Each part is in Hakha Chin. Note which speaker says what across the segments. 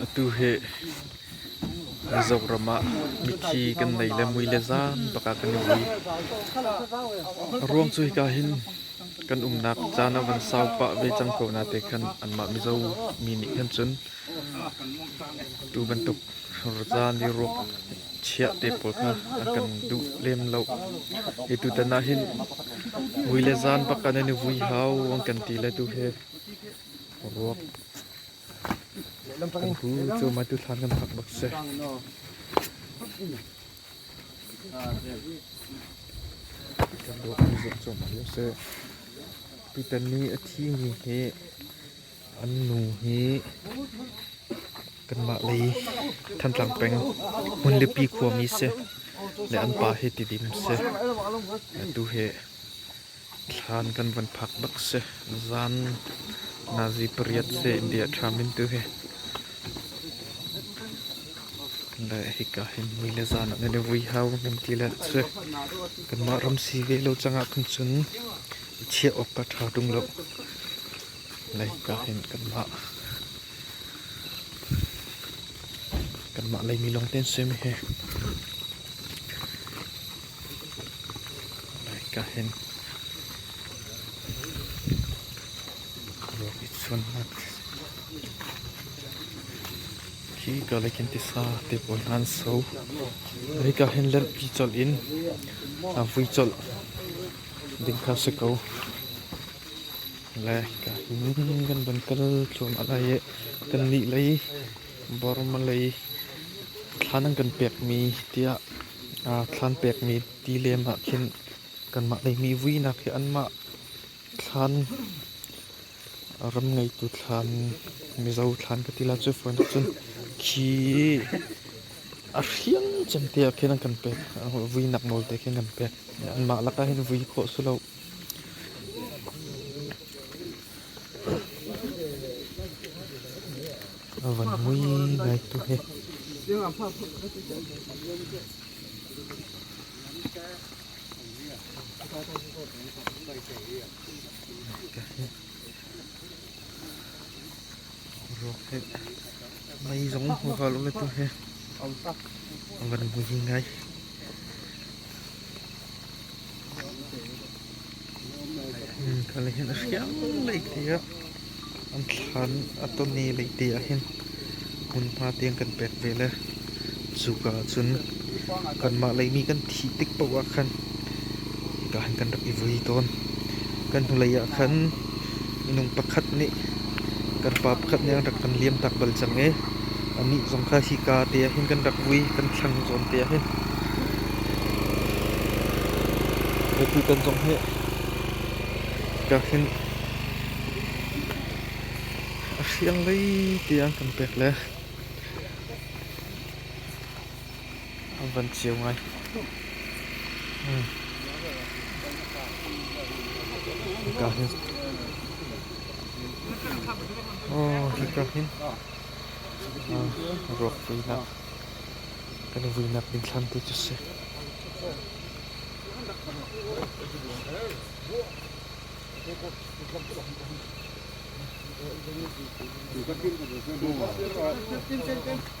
Speaker 1: Atu hi Mizoram ah mithi kan nei le mui le zan bak ah kan i vui. A ruang cu hika hin kan umnak caan a van sau pah ve cang ko na te khan anmah Mizo mi nih khan cun tu bantuk caan i ruak chiah te pawl kha an kan duh lem lo. Hi tutan ah hin mui le zan bak an i vui hau an kan ti le tu hi ruak Kan pu cu maitu thlan kan phak bak si. Kan dawtmi zong cu mal sih. Tutan ni a thimi hi an nu hi kanmah lei Thantlang peng hmunlipi khuami si le an pa hi tidim si. Tu hi Thlan kan van phak bak si. Zan nazi pariat si India ṭhamin tu hi. Le hika hin ni le zan nan i vui hau nan ti le si. Kanmah ram si ve lo cangah khan cun chiah awk ka ṭha ṭung lo. Le hika hin kanmah kanmah leimi lawng ten simi hi. Ka hin ruak i chunhnak khi karlak in tisa te pawl hna an so. Hi ka hin lenhpi colh in a vui colh ding kha si ko. Le ka hin kan van kal thluahmah lai i kannih lei Burma lei thlan an kan pekmi tiah Aa thlan pekmi tilem ah khin kanmah ngeihmi vuinak hi anmah thlan, ram ngeitu thlan, Mizo thlan ka ti la cu fawi nak cun khi a hriang cemte ah khin an kan pek. Vuinak nawl te khin kan pek. Anmah lakah hin vui khawh si lo. A van mui ngaitu he. Ruak he. Mei zong va lo tu he. A van mui ngai. Hmm, kan lei hin a hriang lei ti a an thlan a ton ni lei ti ah hin hmunhma tiang kan pek ve le cuka ah cun kanmah lei mi kan thih tik paoh ah khan hika han kan rak i vui tawn kan hnulei ah khan minung pakhat nih kan pa pakhat nih an rak kan liamtak bal cang i anih zong kha hika te ah hin kan rak vui kan thlang zawn te ah hin mipi kan zong hi ka hin a hrial lei tiang kan pek le an van ceu ngai. Hika hin. Oh, hika hin. Ah, ruak vuinak. Kan i vuinak ding thlam ti cu si. Tin, tin, tin.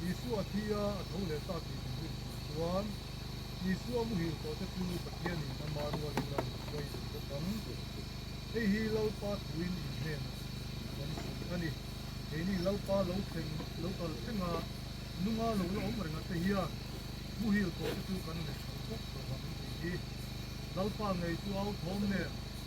Speaker 1: Jesuh a thi ah a tho le tahti ding in an tuan. Jesuh a muhil kawte cu Pathian in amah rual in an suai tuk bawk ang. Hihi Lalpa thu in in hnen a si ti kan zumh a ni. Kei nih Lalpa lo, thleng, lo kal theng ah nunga lo la um rengah te hian muhil kawte cu kan nei hran tuk lo ang ti hi Lalpa ngei cu au thawm nen